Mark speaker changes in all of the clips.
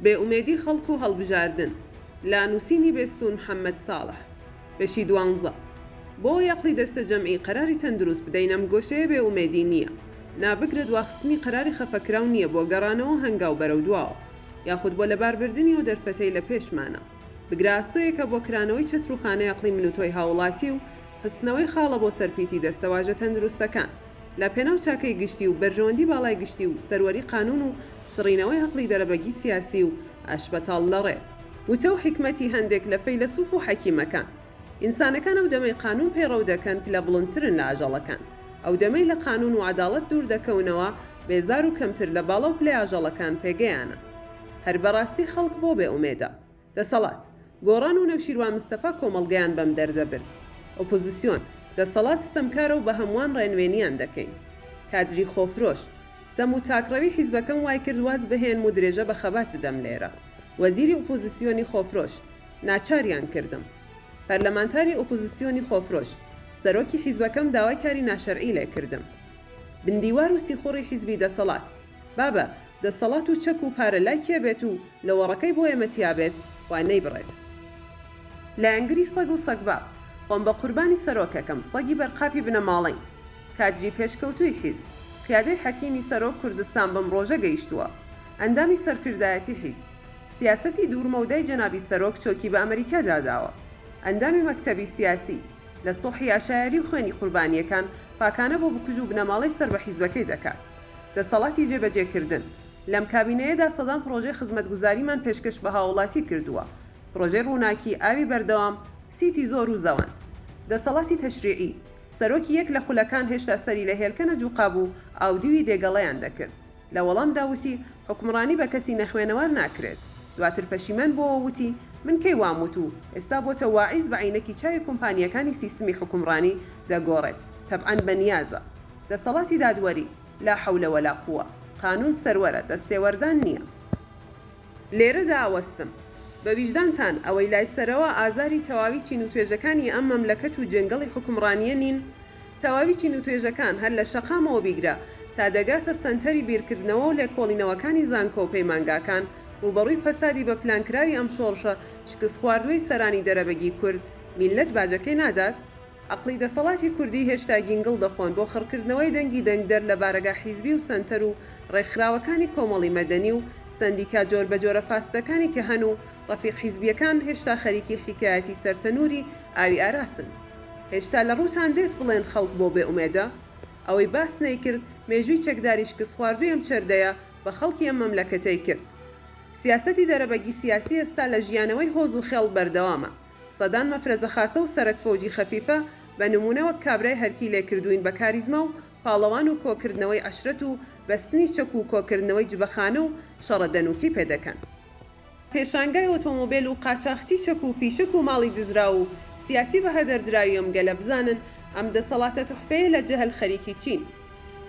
Speaker 1: بێ ئومێدی خەڵک و هەڵبژاردن لە نووسینی بێستوون محەمەد ساڵح بەشی دوانزە بۆ یەقڵی دەستەجەمعی قەراری تەن دروست بدەین ئەم گۆشەیە بێ ئومێدی نییە نا بگرە دواخستنی قەراری خەفەکراو نییە بۆ گەڕانەوەو هەنگاو بەرەو دواوە یاخود بۆ لەباربردنی ئەو دەرفەتەی لە پێشمانە بگرە ئاسۆیەکە بۆ کرانەوەی چەتروخانەی ئەقڵی من و تۆی هاووڵاتی و خستنەوەی خاڵە بۆ سەر پیتی دەستەواژە تەندروستەکان لە پێناو چاکەی گشتی و بەرژەوەندی باڵای گشتی و سەروەری قانون و سڕینەوەی عەقڵی دەرەبەگی سیاسی و ئاشبەتاڵ لەڕێ وتە و حیکمەتی هەندێک لە فەیلەسوف و حەکیمەکان. ئینسانەکان ئەو دەمەی قانون پەیڕەو دەکەن پلە بڵندترن لە ئاژەڵەکان، ئەو دەمەی لە قانون و عەداڵەت دوور دەکەونەوە بێزار و کەمتر لە باڵا و پلەی ئاژەڵەکان پێگەیانە. هەر بەڕاستی خەڵک بۆ بێ ئومێدە؟ دەسەڵات، گۆڕان و نەوشیروان مستەفا کۆمەڵگەیان بەم دەردە برد. ئۆپۆزسیۆن، دەسەڵات ستەمکارە و بە هەمووان ڕێنوێنییان دەکەین. کادری خۆفرۆش، ستەم و تاکڕەوی حیزبەکەم وای کرد واز بهێنم و درێژە بە خەبات بدەم لێرە. وەزیری ئۆپۆزسیۆنی خۆفرۆش، ناچاریان کردم. پەرلەمانتاری ئۆپۆزسیۆنی خۆفرۆش، سەرۆکی حیزبەکەم داوای کاری ناشەرعی لێ کردم. بندیوار و سیخوڕی حیزبی دەسەڵات، بابە دەستەڵات و چەک و پارە لای کێ بێت و لەوەڕەکەی بۆ ئێمە تیا بێت و نەیبڕێت. لایەنگری سەگ و سەگباب. خۆم بە قوربانی سەرۆکەکەم، سەگی بەرقاپی بنەماڵەین. کادری پێشکەوتووی حیزب. قیادەی حەکیمی سەرۆک کوردستان بەم ڕۆژە گەیشتووە. ئەندامی سەرکردایەتی حیزب. سیاسەتی دوور مەودای جەنابی سەرۆک چۆکی بە ئەمریکادا داوە. ئەندامی مەکتەبی سیاسی. لە سوڵحی عەشایەری و خوێنی قوربانییەکان پاکانە بۆ بکوژ و بنەماڵەی سەر بە حیزبەکەی دەکات. دەستەڵاتی جێبەجێکردن، لەم کابینەیەدا سەدان پڕۆژەی خزمەتگوزاریمان پێشکەش بە هاوڵاتی کردووە، پڕۆژەی ڕووناکی، ئاوی بەردەوام، سیتی زۆر و زەوەند. دەستەڵاتی تەشریعی، سەرۆکی یەک لە خولەکان هێشتا سەری لە هێلکەنە جوقابوو، ئاودیوی دێگەڵەیان دەکرد، لە وەڵامدا وتی، حوکمڕانی بە کەسی نەخوێنەوار ناکرێت، دواتر پەشیمان بۆوە وتی، من کەی وام وتوو، ئێستا بۆتە واعیز بە عەینەکی چاوی کومپانیەکانی سیستمی حوکمڕانی دەگۆڕێت، تەبعەن بەنیازە. دەستەڵاتی دادوەری، لا حول ولا قوە، قانون سەروەرە، دەستێوەردان نیە. لێرەدا ئەوەستم. بە ویژدانتان، ئەوەی لای سەرەوە ئازاری تەواوی چین و توێژەکانی ئەم مەملەکەت و جێنگەڵی حوکمڕانیە نین؟ تەواوی چین و توێژەکان هەر لە شەقامەوە بیگرە تا دەگاتە سەنتەری بیرکردنەوە و لێکۆڵینەوەکانی زانکۆ و پەیمانگاکان ڕووبەڕووی فەسادی بە پلانکراوی ئەم شۆڕشە شکستخواردوەی سەرانی دەرەبەگی کورد، میللەت باجەکەی نادات؟ ئەقڵی دەسەڵاتی کوردی هێشتا گینگڵ دەخۆن بۆ خڕکردنەوەی دەنگی دەنگدەر لە بارەگا حیزبی و سەنتەر و ڕێکخراوەکانی کۆمەڵی مەدەنی و سەندیکا جۆر بەجۆرە فاسدەکانی کە هەن و ڕەفیق حیزبیەکان هێشتا خەریکی حیکایەتی سەر تەنوری ئاوی ئاراسن هێشتا لە ڕووتان دێت بڵێن خەڵک بۆ بێ ئومێدە ئەوەی باست نەیکرد مێژووی چەکداری شکستخواردوی ئەم چەردەیە بە خەڵکی ئەم مەملەکەتەی کرد سیاسەتی دەرەبەگی سیاسی ئێستا لە ژیانەوەی هۆز و خێڵ بەردەوامە. سەدان مەفرەزە خاسە و سەرەک فەوجی خەفیفە بە نموونە وەک کابرای هەرکی لێ کردووین بە کاریزما و پاڵەوان و کۆ کردنەوەی عەشرەت و بەستنی چەک و کۆ کردنەوەی جبەخانە و شەڕە دەنووکی پێ دەکەن. پێشانگای ئۆتۆمۆبێل و قاچاخچی چەک و فیشەک و ماڵی دزراو و سیاسی بە هەدەر دراوی ئەم گەلە بزانن ئەم دەسەڵاتە تحفەیە لە جەهل خەریکی چین.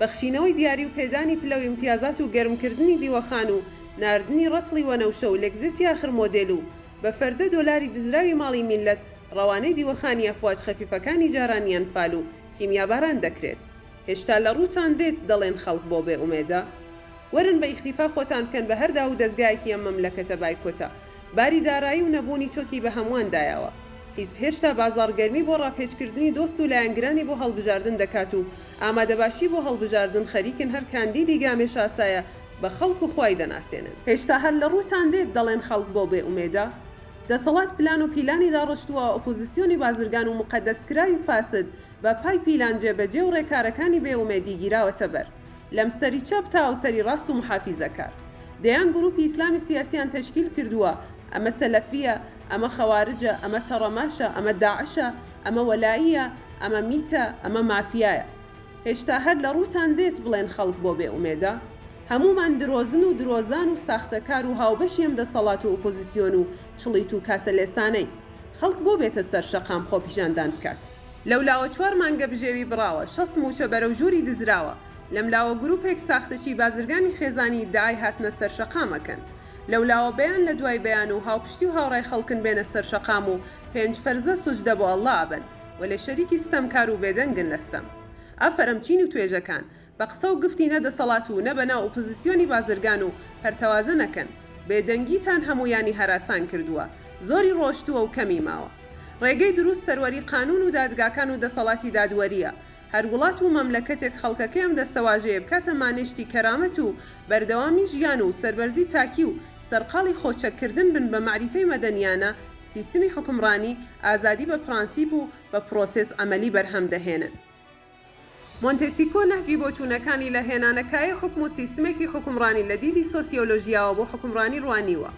Speaker 1: بەخشینەوەی دیاری و پێدانی پلە و ئیمتیازات و گەرم کردنی دیوەخان و ناردنی ڕەچڵی وەنەوشە و لێکزێسی ئاخر مۆدێل و بە فەردە دۆلاری دزراوی ماڵی میللەت ڕەوانەی دیوەخانی ئەفواج خەفیفەکانی جارانی ئەنفال و کیمیاباران دەکرێت هێشتا لە ڕووتان دێت دەڵێن خەڵک بۆ بێ ئومێدە؟ وەرن بە ئیختیفا خۆتان بکەن بە هەر داوو دەزگایەکی ئەم مەملەکەتە بایکۆتە باری دارایی و نەبوونی چۆکی بە هەمووان دایەوە حیزب هێشتا بازاڕ گەرمی بۆ ڕاپێچکردنی دۆست و لایەنگرانی بۆ هەڵبژاردن دەکات و ئامادەباشی بۆ هەڵبژاردن خەریکن هەر کاندیدی گامێشاسایە بە خەڵک و خوای دەناسێنن. هێشتا هەر لە ڕووتان دێت دەڵێن خەڵک بۆ بێ ئومێدە؟ دەسەڵات پلان و پیلانی داڕشتووە، ئۆپۆزیسیۆنی بازرگان و موقەدەسکراوی و فاسد بە پای پیلان جێبەجێ و ڕێکارەکانی بێ ئومێدی گیراوەتە بەر. لەم سەری چەپ تا ئەو سەری ڕاست و موحافیزەکار. دەیان گرووپی ئیسلامی سیاسییان تەشکیل کردووە، ئەمە سەلەفییە، ئەمە خەوارجە، ئەمە تەڕەماشە، ئەمە داعشە، ئەمە وەلائییە، ئەمە میتە، ئەمە مافیایە. هێشتا هەر لە ڕووتان دێت بڵێن خەڵک بۆ بێ ئومێدە؟ هەموومان درۆزن و درۆزان و ساختەکار و هاوبەشی ئەم دەسەڵات و ئوپۆزیسیۆن و چڵیت و کاسەلێسانەین. خەڵک بۆ بێتە سەر شەقام خۆپیشاندان بکات؟ لەولاوە چوار مانگە بژێوی بڕاوە، شەست مووچە بەرەو ژووری دزراوە، لەملاوە گرووپێک ساختەچی بازرگانی خێزانی ئیدعای هاتنە سەر شەقام ئەکەن. لەولاوە بەیان لە دوای بەیان و هاوپشتی و هاوڕای خەڵکن بێنە سەر شەقام و پێنج فەرزە سوجدە بۆ اللە ئەبەن. وەلێ شەریکی ستەمکار و بێدەنگن لە ستەم. ئافەرم چین و توێژەکان. بە قسە و گفتی نە دەسەڵات و نە بەناو ئوپزسیۆنی بازرگان و پەرتەوازە نەکەن. بێدەنگیتان هەموویانی هەراسان کردووە. زۆری ڕۆشتووە و کەمی ماوە. ڕێگەی دروست سەروەری قانوون و دادگاکان و دەسەڵاتی دادوەرییە. هەر وڵات و مەملەکەتێک خەڵکەکەی ئەم دەستەواژەیە بکاتە مانێشتی کەرامەت و بەردەوامی ژیان و سەربەرزی تاکی و سەرقاڵی خۆ چەک کردن بن بە مەعریفەی مەدەنیانە سیستمی حوکمڕانی ئازادی بە پڕانسیپ و بە پڕۆسێس عەمەلی بەرهەم دەهێنن. مۆنتێسیکۆ نەهجی بۆچوونەکانی لە هێنانە کایەی حوکم و سیستمێکی حوکمڕانی لە دیدی سۆسیۆلۆژیاوە بۆ حوکمڕانی ڕوانیوە.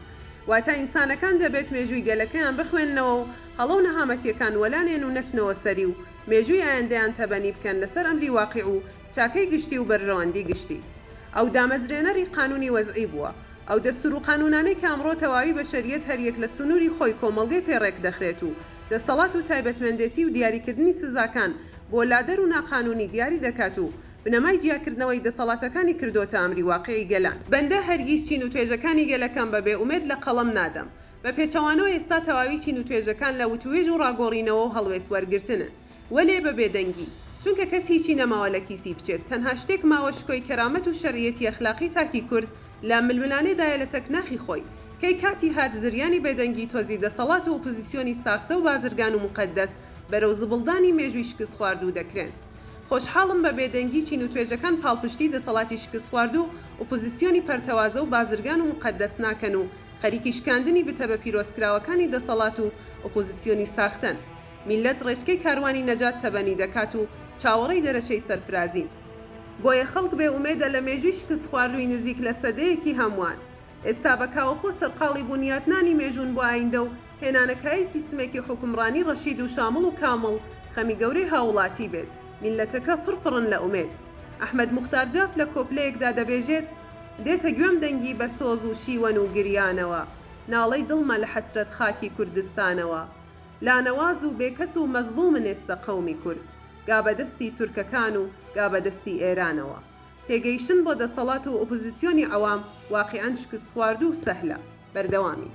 Speaker 1: واتە ئینسانەکان دەبێت مێژووی گەلەکەیان بخوێننەوە و هەڵە و نەهامەتییەکان وەلا نێن و نەچنەوە سەری و مێژووی ئایندەیان تەبەنی بکەن لەسەر ئەمری واقیع و چاکەی گشتی و بەرژەوەندی گشتی. ئەو دامەزرێنەری قانونی وەزعی بووە. ئەو دەستور و قانونانەی کە ئەمڕۆ تەواوی بەشەریەت هەریەک لە سنوری خۆی کۆمەڵگەی پێ ڕێکدەخرێت و دەسەڵات و تایبەتمەندێتی و دیاریکردنی سزاکان بۆ لادەر و ناقانونی دیاری دەکات و بنەمای جیاکردنەوەی دەسەڵاتەکانی کردۆتە ئەمری واقیعی گەلان. بەندە هەرگیز چین و توێژەکانی گەلەکەم بە بێ ئومێد لە قەڵەم نادەم. بە پێچەوانەوە ئێستا تەواوی چین و توێژەکان لە وتووێژ و ڕاگۆڕینەوە و هەڵوێست وەرگرتنن. وەلێ بە بێدەنگی. چونکە کەس هیچی نەماوە لە کیسی بچێت، تەنها شتێک ماوە شکۆی کەرامەت و شەرعیەتی ئەخلاقی تاکی کورد لە ململانێ دایە لە تەک ناخی خۆی. کەی کاتی هات زریانی بێدەنگی تۆزی دەسەڵات و ئۆپۆزیسیۆنی ساختە و بازرگان و موقەدەس بەرەو زبڵدانی مێژووی شکستخواردوو دەکرێن. خۆشحاڵم بە بێدەنگی چین و توێژەکان پاڵپشتی دەسەڵاتی شکستخواردو ئۆپۆزیسیۆنی پەرتەوازە و بازرگان و موقەدەس ناکەن و خەریکی شکاندنی بتە بە پیرۆزکراوەکانی دەسەڵات و ئۆپۆزیسیۆنی ساختەن. میللەت ڕێچکەی کاروانی نەجات تەبەنی دەکات و چاوەڕێی دەرەچەی سەرفرازین. بۆیە خەڵک بێ ئومێدە لە مێژووی شکستخواردووی نزیک لە سەدەیەکی هەمووان. ئێستا بە کاوەخۆ سەرقاڵی بونیاتنانی مێژوون بۆ ئایندە و هێنانە کایەی سیستمێکی حوکمڕانی ڕەشید و شامڵ و کامڵ خەمی گەورەی هاووڵاتی بێت. میللەتەکە پڕ پڕن لە ئومێد. ئەحمەد موختار جاف لە کۆپلەیەکدا دەبێژێت، دێتە گوێم دەنگی بە سۆز و شیوەن و گریانەوە، ناڵەی دڵمە لە حەسرەت خاکی کوردستانەوە. لانەواز و بێکەس و مەزڵومن ئێستە قەومی کورد گا بە دەستی تورکەکان و گا بە دەستی ئێرانەوە تێگەیشتن بۆ دەسەڵات و ئۆپۆزیسیۆنی عەوام واقیعەن شکستخواردوو سەهلە بەردەوامین.